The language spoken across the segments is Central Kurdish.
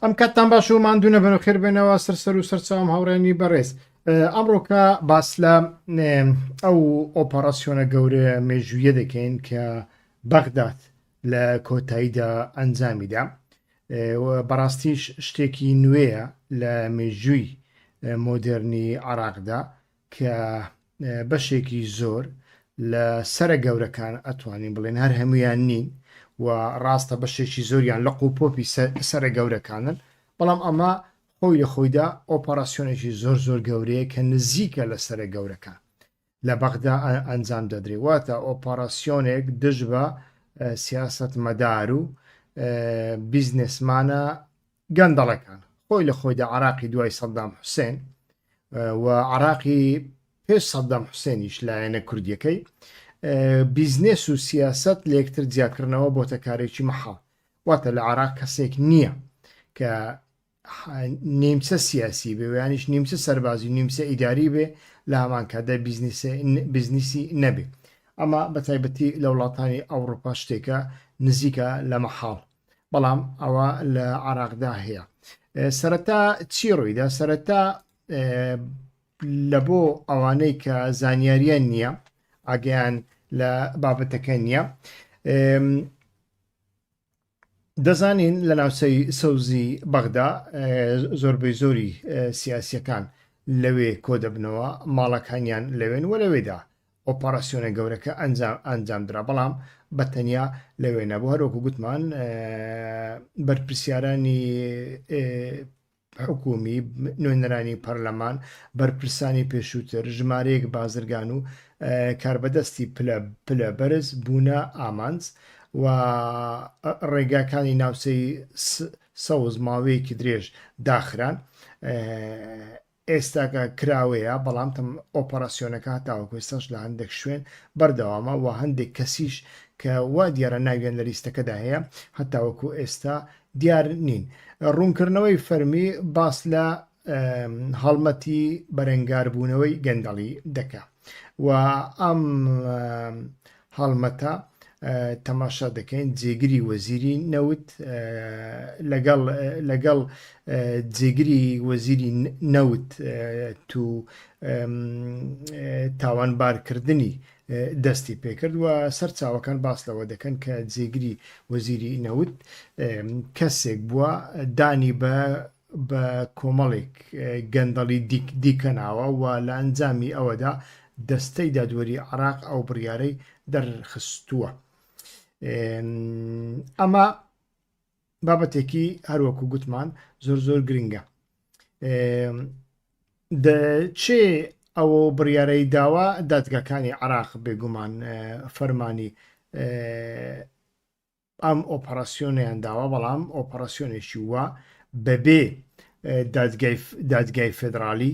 ئەم کاتتان باش و ماندوو نەبن و خێربێنەوە سەر سەر و سەرچوام هاوڕێنی بەڕێز ئەمڕۆکە باس لە ئەو ئۆپەڕاسیۆنە گەورە مێژوویە دەکەین کە بەغداد لە کۆتاییدا ئەنجامیدا بەڕاستیش شتێکی نوێیە لە مێژووی مۆدررنی عراقدا کە بەشێکی زۆر لە سەرە گەورەکان ئەتوانین بڵێن هەر هەمویان نین و ڕاستە بەشێکی زۆریان لە قوپۆپی سەرە گەورەکانن بەڵام ئەمە خۆی لە خۆیدا ئۆپەراسسیۆنێکی زۆر زۆر گەورەیە کە نزیکە لە سەرە گەورەکان لە بەغدا ئەنجام دەدرێ واتە ئۆپەراسسیۆنێک دژ بە سیاست مەدار و بیزنسمانە گەندەڵەکان. خۆی لە خۆیدا عەراقی دوای سەدام حوسێن و عەراقی پێش سەدام حوسێنیش لایەنە کوردیەکەی بیزنێس و سیاست لەکتر جیاکردنەوە بۆتە کارێکی مەحاڵ واتە لە عراق کەسێک نییە کە نیمچە سیاسی بێ ویانیش نیمچە سەربازی نیمچە ئیداری بێ لە هەمانکاتدا بزنسی نەبێ ئەمە بە تایبەتی لە وڵاتانی ئەوروپا شتێکە نزیکە لە مەحاڵ بەڵام ئەوە لە عراقدا هەیە سەرەتا چی ڕوویدا سەرەتا لە بۆ ئەوانەی کە زانیاریان نییە ئاگەیان لە بابەتەکە نییە دەزانین لە ناوچەی سەوزی بەغدا زۆربەی زۆری سیاسیەکان لەوێ کۆ دەبنەوە ماڵەکانیان لەوێن وە لەوێدا ئۆپەراسیۆنە گەورەکە ئەنجامدرا، بەڵام بە تەنیا لەوێ نەبوو، هەروەکو گوتمان بەرپرسیارانی حکوومی، نوێنەرانی پەرلەمان، بەرپرسانی پێشووتر، ژمارەیەک بازرگان و کاربەدەستی پلە بەرز بوونە ئامانج و ڕێگاکانی ناوچەی سەوز ماوەیەکی درێژ داخران. ئێستاکە کراوەیە، بەڵام تەم ئۆپەراسیۆنەکە هەتاوەکو ئێستاش لە هەندێک شوێن بەردەوامە و هەندێک کەسیش کە وا دیارە ناویان لە لیستەکەدا هەیە هەتاوەکو ئێستا دیار نین. ڕوونکردنەوەی فەرمی، باس لە هەڵمەتی بەرەنگاربوونەوەی گەندەڵی دەکا و ئەم هەڵمەتە تەماشا دەکەین جێگری وەزیری نەوت لەگەڵ لەگەڵ جێگری وەزیری نەوت تو تاوانبارکردنی دەستی پێکرد و سەرچاوەکان باس لەوە دەکەن کە جێگری وەزیری نەوت کەسێک بووە دانی بە بە کۆمەڵێک گەندەڵی دیکە ناوە و لە ئەنجامی ئەوەدا دەستەی دادوەری عێراق ئەو بڕیارەی دەرخستووە. ئەمە بابەتێکی هەروەکو گوتمان زۆر زۆر گرنگە. دەچێ ئەوە بڕیارەی داوا دادگاکانی عراق بێگومان فەرمانی ئەم ئۆپەراسیۆنەیان داوە، بەڵام ئۆپەراسیۆنێکی وا بەبێ دادگای فێدراڵی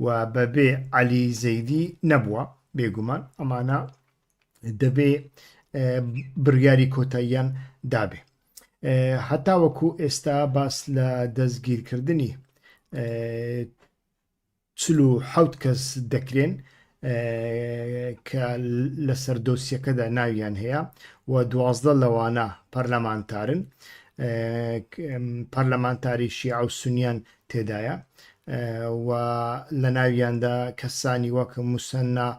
و بەبێ عەلی زەیدی نەبووە، بێگومان ئەمانە دەبێ بڕیاری کۆتاییان دابێ. هەتاوەکو ئێستا باس لە دەستگیرکردنی چل و حەوت کەس دەکرێن کە لەسەر دۆسیەکەدا ناویان هەیە و دوازدە لەوانە پەرلەمانتارن پەرلەمانتاری شیعە و سنیان تێدایە و لە ناویاندا کەسانی وەک مسەنا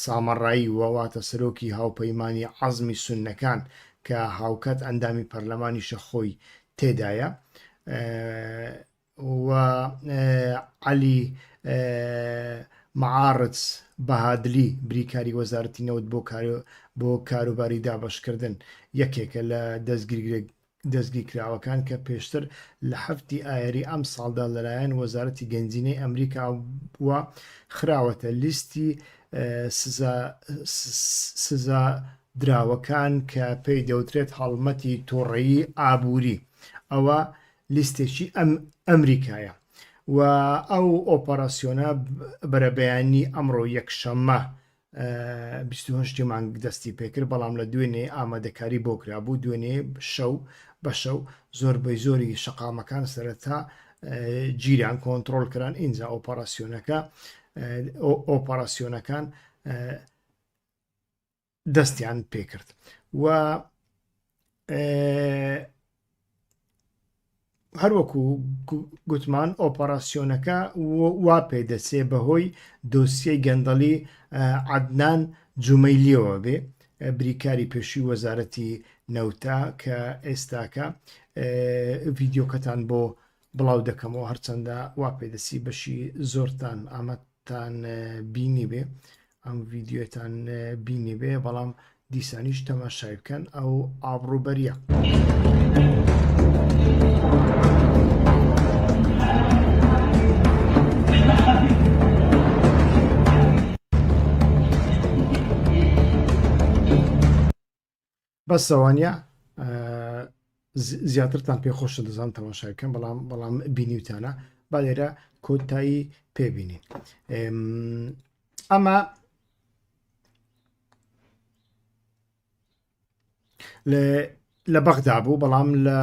سامەڕایی وواتە سەرۆکی هاوپەیمانی عەزمی سونەکان کە هاوکات ئەندامی پەرلەمانیشە خۆی تێدایە و عەلی معاڕدز بەهادلی بریکاری وەزارەتی نەوت بۆ بۆ کاروباری دابەشکردن یەکێکە لە دەستگیرکراوەکان کە پێشتر لە هەفتی ئایاری ئەم ساڵدا لەلایەن وەزارەتی گەنجینەی ئەمریکا وە خراوەتە لیستی سزا دراوەکان کە پێی دەوترێت هەڵمەتی تۆڕەیی ئابووری ئەوە لیستێکی ئەم ئەمریکایە و ئەو ئۆپەراسیۆنە بەرەبەیانی ئەمڕۆ یەکشەممە 28 مانگ دەستی پێکرد بەڵام لە دوێنێ ئامادەکاری بۆ کرابوو دوێنێ شەو بە شەو زۆربەی زۆری شقامەکان سەرەتا گیران کۆنتترۆل کران ئینجا ئۆپەراسیۆنەکە ئۆپەراسیۆنەکان دەستیان پێکرد و هەروەکو گوتمان ئۆپەراسسیۆنەکە وا پێ دەچێ بەهۆی دۆسیەی گەندەڵی عدنان جومەلیەوە بێ بریکاری پێشوی وەزارەتی نەوتا کە ئێستاکە ڤیددیوکەتان بۆ بڵاو دەکەمەوە هەرچەندە وا پێدەسی بەشی زۆرتان ئامە تان بینی بێ ئەم ڤیددیوتان بینی بێ بەڵام دیسانیش تەماشای بکەن ئەو ئابڕوبەریە. بەس ئەوانە زیاترتان پێ خۆشە دەزان تەماشاکەم بەڵام بەڵام بینیوتانە با لێرە کۆتایی پێبینین ئەمە لە بەغدا بوو بەڵام لە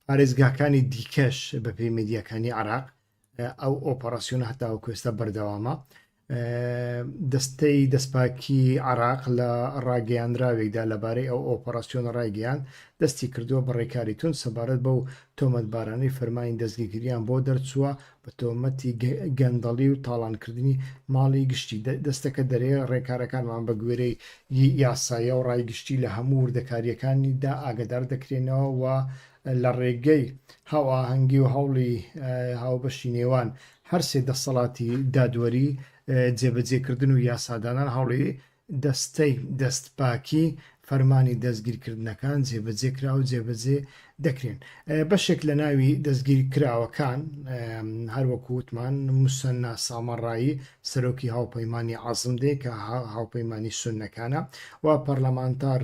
پارێزگاکانی دیکەش بەپێی میدیاکانی عێراق ئەو ئۆپەراسیۆنە هەتاوەکو ئێستا بەردەوامە دەستەی دەستپاکی عراق لە ڕاگەیاندراوێکدا لەبارەی ئەو ئۆپەراسسیۆن ڕایگەیان دەستی کردووە بە ڕێکاری تون سەبارەت بەو تۆمەتبارانی فەرمانی دەستگیگریان بۆ دەرچووە بە تۆمەتی گەندەڵی و تاڵانکردنی ماڵی گشتی دەستەکە دەرێ، ڕێکارەکانمان بە گوێرەی یاسایە و ڕای گشتی لە هەموو وردەکارییەکانی دا ئاگەدار دەکرێنەوە و لە ڕێگەی هاوئاهەنگی و هەوڵی هاوبەشی نێوان هەر سێ دەستەڵاتی دادوەری، جێبەجێکردن و یاسادانان هەوڵی دەستەی دەستپاکی فەرمانی دەستگیرکردنەکان جێبەجێ کرا و جێبەجێ دەکرێن. بەشێک لە ناوی دەستگیرکراوەکان هەروەکو وتمان موسەننا سامەڕایی سەرۆکی هاوپەیمانی عەزم دێ کە هاوپەیمانی سونەکانە و پەرلەمانتار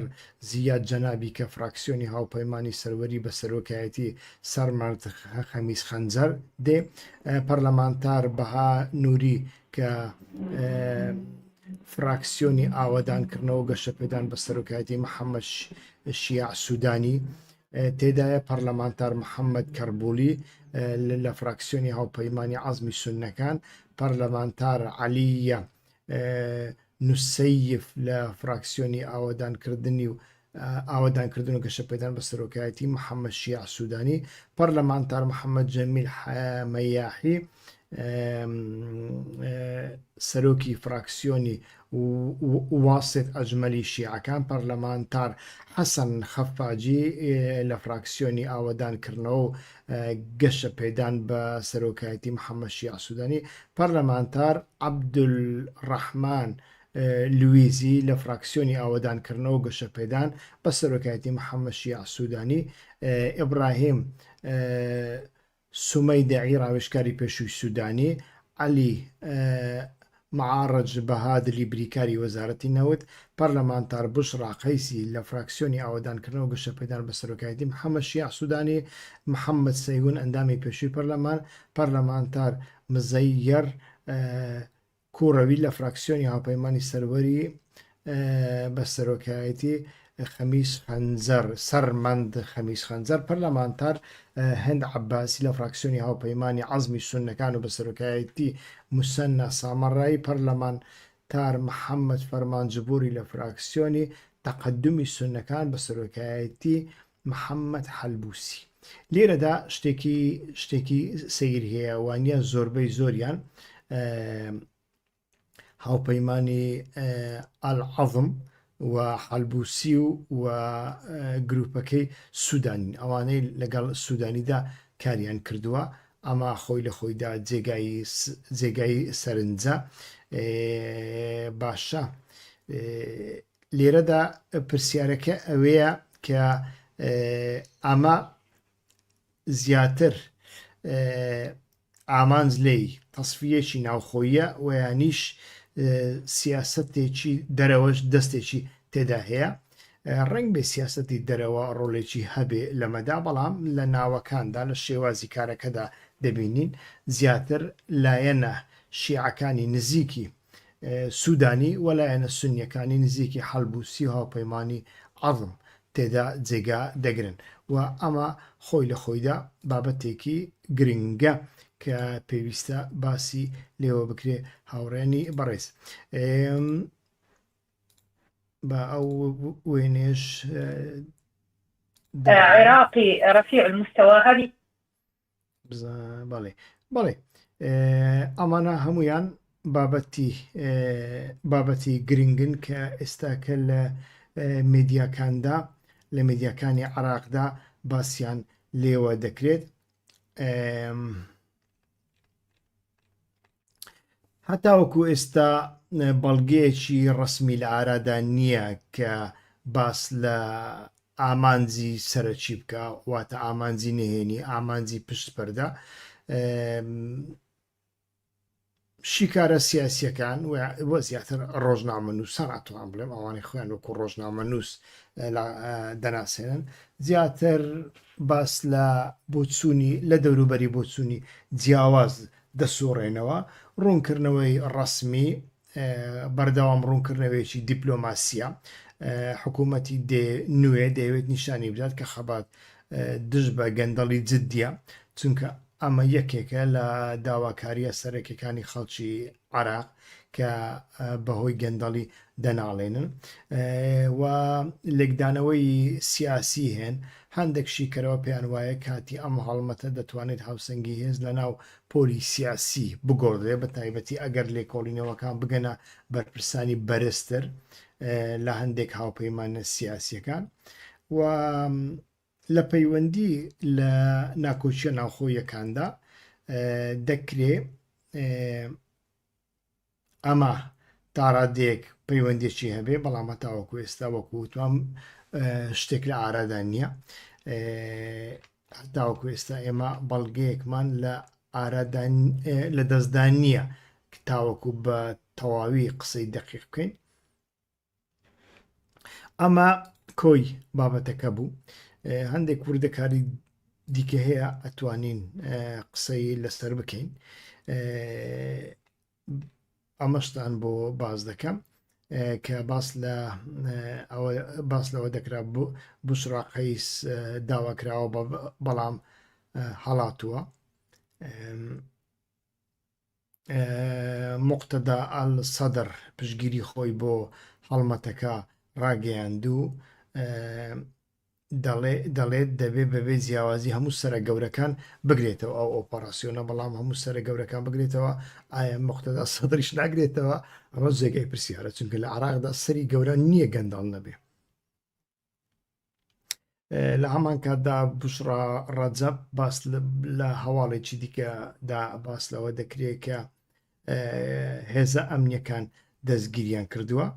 زیاد جەنابی کە فراکسیۆنی هاوپەیمانی سەروەری بە سەرۆکایەتی سەرمەرد خەمیس خەنجەر دێ پەرلەمانتار بەها نووری کە فراکسیۆنی ئاوادان کردنەوە گەشەپێدان بە سەرۆکایەتی محەممەد شیع سوودانی تێدایە پەرلەمانتار محەممەد کەربولی لە فراکسیۆنی هاوپەیمانانی عزمی سونەکان پەرلەمانتار علیە نووسیف لە فراکسیۆنی ئاوادانکردنی و ئاوەدانکردن و گەشەپێدان بە سەرۆکایەتی محەممەد شیاع سوودانی، پەرلەمانتار محەممەد جەمیل مەیاحی، سەرۆکی فراکسیۆنی واصف ئەجمەلی شیعەکان، پەرلەمانتار حەسەن خەفاجی لە فراکسیۆنی ئاوەدانکردنەوە و گەشەپێدان بە سەرۆکایەتی محەممەد شیاع سوودانی، پەرلەمانتار عەبدولڕەحمان لویزی لە فراکسیۆنی ئاوەدانکردنەوە و گەشەپێدان بە سەرۆکایەتی محەممەد شیاع سوودانی، ئیبراهیم سومەیدەعی ڕاوێژکاری پێشووی سوودانی، عەلی مەعاڕج بەهادلی بریکاری وەزارەتی نەوت، پەرلەمانتار بوشڕا قەیسی لە فراکسیۆنی ئاوەدانکردنەوە و گەشەپێدان بە سەرۆکایەتی محەممەد شیاع سوودانی، محەممەد سەیهون ئەندامی پێشووی پەرلەمان، پەرلەمانتار مزەیەر کوڕەوی لە فراکسیۆنی هاوپەیمانی سەروەری بە سەرۆکایەتی خەمیس خەنجەر سەرمەند خەمیس خەنجەر پەرلەمانتار هەند عباسی لە فراکسیۆنی هاوپەیمانی عزمی سونەکان و بە سەرۆکایەتی مسەننا سامەڕایی پەرلەمان تار محەممەد فەرمانجبووری لە فراکسیۆنی تەقدمی سونەکان بە سەرۆکایەتی محەمەد حەلبوسی، لێرەدا شتێکی شتێکی سەیری هەیە، وانە زۆربەی زۆریان هاوپەیمانانی ئەلعەزم و حەلبوسی و و گروپەکەی سوودانین ئەوانەی لەگەڵ سوودانیدا کاریان کردووە ئەما خۆی لە خۆیدا جێگای جێگای سەرنجە باشە لێرەدا پرسیارەکە ئەوەیە کە ئەمە زیاتر ئامانج لێی تەسفیەکی ناوخۆیە و یانیش سیاستێکی دەرەوەش دەستێکی تێدا هەیە ڕنگ بێ سیاستی دەرەوە ڕۆلێکی هەبێ لەمەدا بەڵام لە ناوەکاندا لە شێوازی کارەکەدا دەبینین زیاتر لایەنە شیعەکانی نزیکی سودانی و لایەنە سونیەکانی نزیکی حەلب و سی هاوپەیمانی عەزم تێدا جێگا دەگرن و ئەمە خۆی لە خۆیدا بابەتێکی گرنگە کە پێویستە باسی لێوە بکرێ هاوڕێنی بەڕێز بە ئەو وێنێش عێراقی ڕفیع المستەوا هەبی بەڵێ بەڵێ ئەمانە هەمویان بابەتی بابەتی گرنگن کە ئێستاکە لە میدیاکاندا لە میدیاکانی عراقدا باسییان لێوە دەکرێت هەتاوەکو ئێستا بەڵگەیەکی ڕسمی لە ئارادا نییە کە باس لە ئامانجی سەرەکی بکە واتە ئامانجی نهێنی ئامانجی پشت پەردە شیکارە سیاسیەکان و زیاتر ڕۆژنامە نووسان ئەتوان بڵێم ئەوانەی خۆیان وەکو ڕۆژنامە نووس دەناسێنن زیاتر باس لە بۆچوونی لە دەوروبەری بۆچوونی جیاواز دەسوڕێنەوە، ڕوونکردنەوەی ڕەسمی بەردەوام ڕوونکردنەوەیەکی دیپلۆماسییە، حکوومەتی نوێ دەیەوێت نیشانی بدات کە خەبات دژ بە گەندەڵی جددییە، چونکە ئەمە یەکێکە لە داواکارییە سەرەکییەکانی خەڵکی عێراق کە بەهۆی گەندەڵی دەناڵێنن و لێکدانەوەی سیاسی هەن، هەندێک شیکەرەوە پێیان وایە کاتی ئەم هەڵمەتە دەتوانێت هاوسەنگی هێز لەناو پۆلی سیاسی بگۆڕدرێت بە تایبەتی ئەگەر لێکۆڵینەوەکان بگەنە بەرپرسانی بەرزتر لە هەندێک هاوپەیمانە سیاسیەکان و لە پەیوەندی لە ناکۆچیە ناوخۆیەکاندا دەکرێ ئەمە تاڕادەیەک پەیوەندێکی هەبێ بەڵام هەتاوەکو ئێستا وەکو وتوام شتێک لە ئارادا نییە هەتاوەکو ئێستا ئێمە بەڵگەیەکمان لە ئارادان لە دەستدان نییە تاوەکو بە تەواوی قسەی دەقیق بکەین ئەمە کۆی بابەتەکە بوو هەندێک وردەکاری دیکە هەیە ئەتوانین قسەی لەسەر بکەین ئەمەشتان بۆ باز دەکەم کە باس لە باس لەوە دەکرا بوو بشڕاقەیس داواکراوە بەڵام هەڵاتووە موقتەدا ئەل سەدر پشتگیری خۆی بۆ هەڵمەتەکە ڕاگەیاند و دەڵێت دەبێت بەبێ جیاوازی هەموو سرە گەورەکان بگرێتەوە ئەو ئۆپەراسسیۆنە بەڵام هەموو سرە گەورەکان بگرێتەوە ئایا مختدا سەدرش ناگرێتەوە ئەمە جێگەی پرسیارە چونکە لە عراقدا سەری گەورە نییە گەنداڵ نەبێ لە هەمان کاتدا بشڕا ڕەجەب باس لە هەواڵێکی دیکەدا باس لەوە دەکرێت کە هێزە ئەمنیەکان دەستگیریان کردووە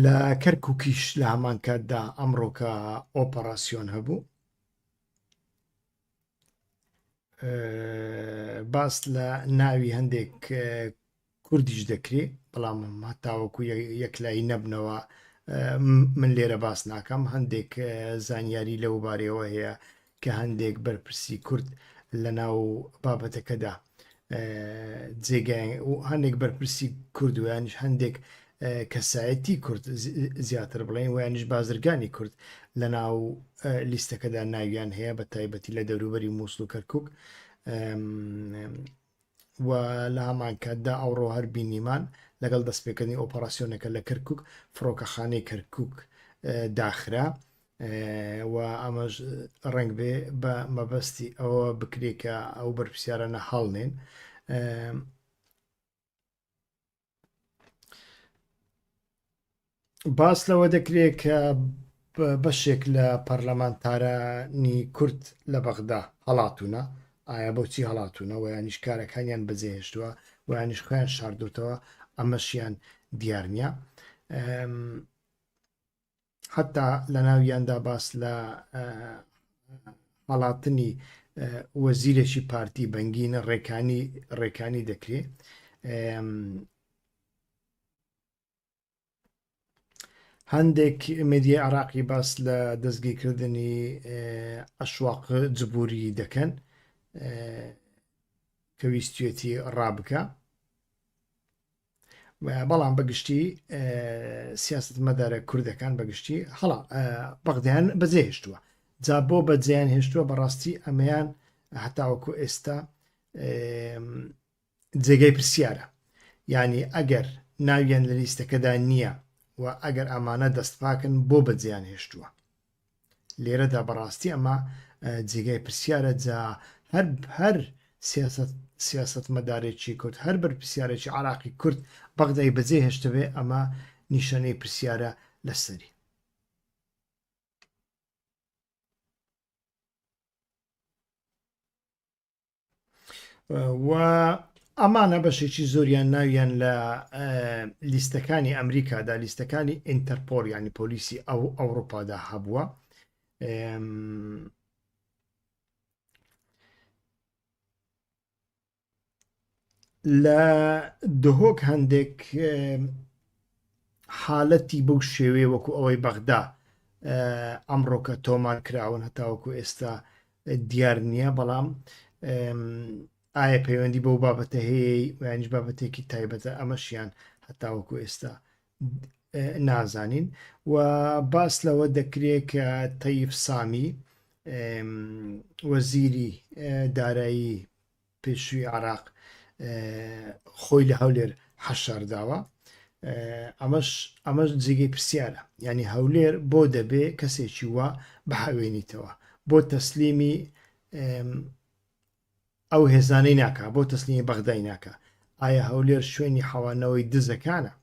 لە کەرککیش لە هەمان کاتدا ئەمڕۆکە ئۆپەراسسیۆن هەبوو باس لە ناوی هەندێک کوردیش دەکرێ بەڵام هەتاوەکو یەکلایی نەبنەوە من لێرە باس ناکەم هەندێک زانیاری لەو بارەوە هەیە کە هەندێک بەرپرسی کورد لە ناو بابەتەکەدا جێگای و هەندێک بەرپرسی کوردویانش هەندێک کەسایەتی کورد زیاتر بڵێین ویانش بازرگانی کورد لە ناو لیستەکەدا ناویان هەیە بە تایبەتی لە دەوروبەری مووسڵ و کەرکک و لە هەمان کاتدا ئەوڕۆ هەر بینیمان لەگەڵ دەستپێکردنی ئۆپەراسسیۆنەکە لە کەرکک فڕۆکەخانەی کەرکک داخرا و ئەمەش ڕنگ بێ بە مەبەستی ئەوە بکرێت کە ئەو بەرپسیارانە هەڵنێن باس لەوە دەکرێت کە بەشێک لە پەرلەمانتارانی کورد لە بەغدا هەڵاتونە ئایا بۆچی هەڵاتونە و یانیش کارەکانیان بەجێهێشتووە و یانیش خۆیان شاردوتەوە ئەمەشیان دیار نییە حەتا لە ناویاندا باس لە هەڵاتنی وەزیرێکی پارتی بەنگینە ڕێکانی ڕێکانی دەکرێت هەندێک مدیە عراقی باس لە دەستگیرکردنی ئەشواق جبووری دەکەن کە ویستێتی ڕابکە بەڵام بەگشتی سیاست مەدارە کوردەکان بەگشتی هەڵا بەغدیان بەجێهێشتووە جا بۆ بەجێیان هێشتووە بەڕاستی ئەمەیان هەتاوەکو ئێستا جێگەی پرسیارە ینی ئەگەر ناویان لە لیستەکەدا نییە و ئەگەر ئەمانە دەستپاکن بۆ بەجێیان هێشتووە لێرەدا بەڕاستی ئەمە جێگای پرسیارە جا هەر هەر سیاستمەدارێکی کورد هەر بەرپسیارێکی عراقی کورد بەغدای بەجێ هێشتبێ ئەمە نیشانەی پرسیارە لەسەری و ئەمانە بەشێکی زۆریان ناویان لە لیستەکانی ئەمریکادا لیستەکانی ئینتەرپۆر ینی پۆلیسی ئەو ئەوروپادا هەبووە لە دهۆک هەندێک حالەتی بەو شێوەیە وەکو ئەوەی بەغدا ئەمڕۆکە تۆمار کراون هەتاوەکو ئێستا دیار نییە بەڵام ئایا پەیوەندی بەو بابەتە هەیە یانیش بابەتێکی تایبەتە ئەمەشیان هەتاوەکو ئێستا نازانین و باس لەوە دەکرێت کە تەیف سامی وەزیری دارایی پێشوی عێراق خۆی لە هەولێر حەشارداوە ئەمەش ئەمەش جێگەی پرسیارە یعنی هەولێر بۆ دەبێ کەسێکی وا بحەوێنیتەوە بۆ تەسلیمی ئەو هێزانەی ناکە بۆ تەسلیمی بەغدای ناکە ئایا هەولێر شوێنی حەوانەوەی دزەکانە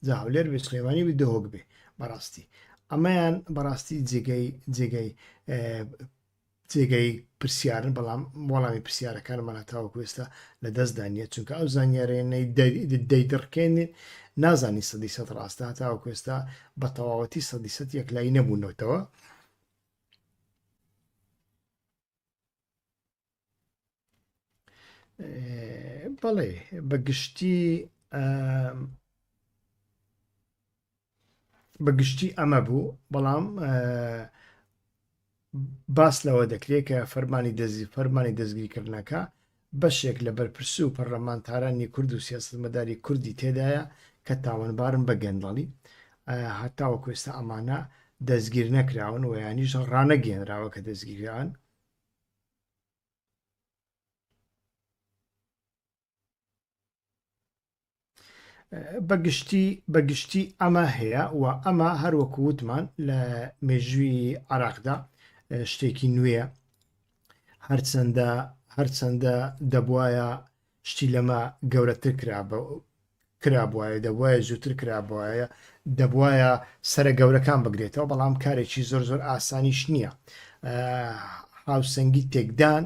جا هەولێر بێ سلێمانی بێ دهۆک بێ بەڕاستی ئەمەیان بەڕاستی جێگەی جێگەی جێگای پرسیارن، بەڵام وەڵامی پرسیارەکانمان هەتاوەکو ئێستا لە دەستدا نییە، چونکە ئەو زانیاریانەی دەیدڕکێنێت نازانین سەدی سەد ڕاستە، هەتاوەکو ئێستا بە تەواوەتی سەدی سەد یەکلایی نەبوونەتەوە. بەڵێ بە گشتی بە گشتی ئەمە بوو بەڵام باس لەوە دەکرێت کە فەرمانی دەزی فەرمانی دەستگیرکردنەکە بەشێک لە بەرپرس و پەرلەمانتارانی کورد و سیاستمەداری کوردی تێدایە کە تاوانبارن بە گەندەڵی هەتاوە کوێستا ئەمانە دەستگیر نەکراون و ینیش ڕانەگەێنراوە کە دەستگیران بەگشتی بەگشتی ئەمە هەیە و ئەمە هەروەکو وتمان لە مێژووی عراقدا شتێکی نوێە هەرچەندە هەرچەندە دەبواە شتی لەمە گەورەتر کرابە کرابوایە دەبوایە زووتر کرابوایە دەبوایە سرە گەورەکان بگرێتەوە بەڵام کارێکی زۆر زۆر ئاسانیش نییە هاوسەنگی تێکدان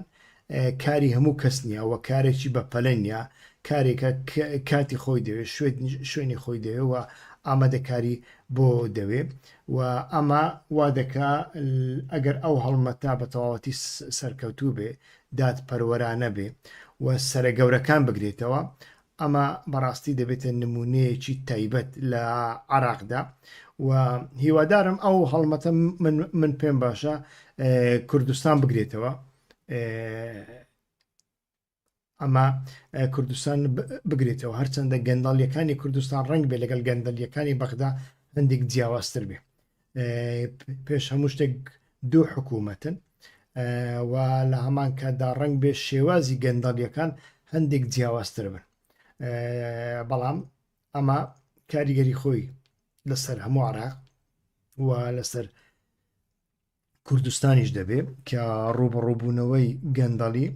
کاری هەموو کەس نییە وە کارێکی بە پەلە نیە کارێکە کاتی خۆی دەوێت شوێنی خۆی دەوێەوە ئامادەکاری بۆ دەوێ و ئەمە وا دەکا ئەگەر ئەو هەڵمەتا بە تەواوەتی سەرکەوتوو بێ دادپەروەرانە بێ و سەرە گەورەکان بگرێتەوە، ئەمە بەڕاستی دەبێتە نموونەیەکی تایبەت لە عێراقدا و هیوادارم ئەو هەڵمەتە من پێم باشە کوردستان بگرێتەوە ئەمە کوردستان بگرێتەوە هەرچەندە گەنداڵیەکانی کوردستان ڕنگ بێ لەگەڵ گەندەلیەکانی بەغدا هەندێک جیاوازتر بێ پێش هەموو شتێک دوو حکوومەتن و لە هەمان کاتدا ڕنگ بێ شێوازی گەندەڵیەکان هەندێک جیاوازتر بن بەڵام ئەمە کاریگەری خۆی لەسەر هەموو عراق و لەسەر کوردستانیش دەبێ کە ڕوبڕوبوونەوەی گەندەڵی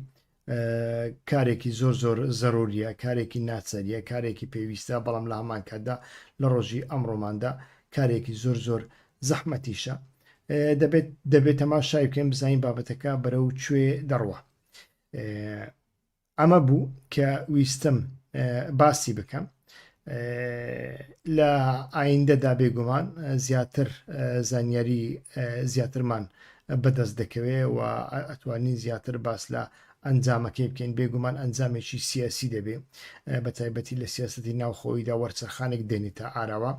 کارێکی زۆر زۆر زەروریە کارێکی ناچەریە کارێکی پێویستە بەڵام لە هەمان کاتدا لە ڕۆژی ئەمڕۆماندا کارێکی زۆر زۆر زەحمەتیشە دەبێت دەبێت تەما شای بکەین بزانین بابەتەکە بەرە و کوێ دەڕوە ئەمە بوو کە ویستم باسی بکەم لە ئایندەدا بێگومان زیاتر زانیاری زیاترمان بەدەست دەکەوێت و ئەتوانین زیاتر باس لە ئەنجامەکەی بکەین بێگومان ئەنجامێکی سیاسی دەبێ بە تایبەتی لە سیاستی ناوخۆیدا وەرچەرخانێک دێنی تا ئاراوە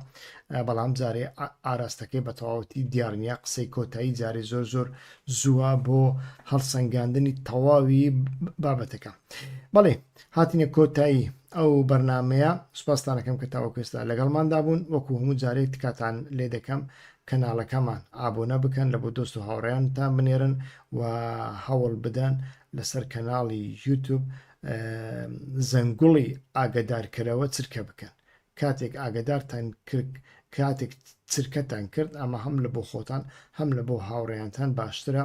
بەڵام جارێ ئاراستەکەی بە تەواوەتی دیارنیە قسەی کۆتایی جارێ زۆر زۆر زووە بۆ هەڵسەنگاندنی تەواوی بابەتەکە بەڵێ هاتنە کۆتایی ئەو بەرنمەیە سوپاستانەکەم کە تاوەکوێستا لەگەڵماندا بوون وەکو هەموو جارێک تکاتان لێ دەکەم کەناڵەکەمان ئابوونە بکەن لە بۆ دۆست و هاوڕێیانتان بنێرن و هەوڵ بدەن لەسەر کەناڵی یوتوب زەنگوڵی ئاگدارکەرەوە چرکە بکەن کاتێک ئاگەدارتان کرد کاتێک چرکەتان کرد ئەمە هەم لە بۆ خۆتان هەم لە بۆ هاوڕێیانتان باشترە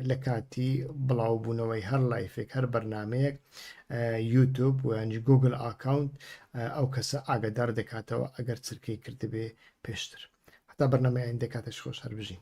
لە کاتی بڵاوبوونەوەی هەر لایفێک هەر بەرنمەیەک یوتوب و ینج گوگل ئاکاونت ئەو کەسە ئاگدار دەکاتەوە ئەگەر چرکەی کردبێ پێشتر هەتا بەرنمەیان دەکاتش خۆش هەر بژین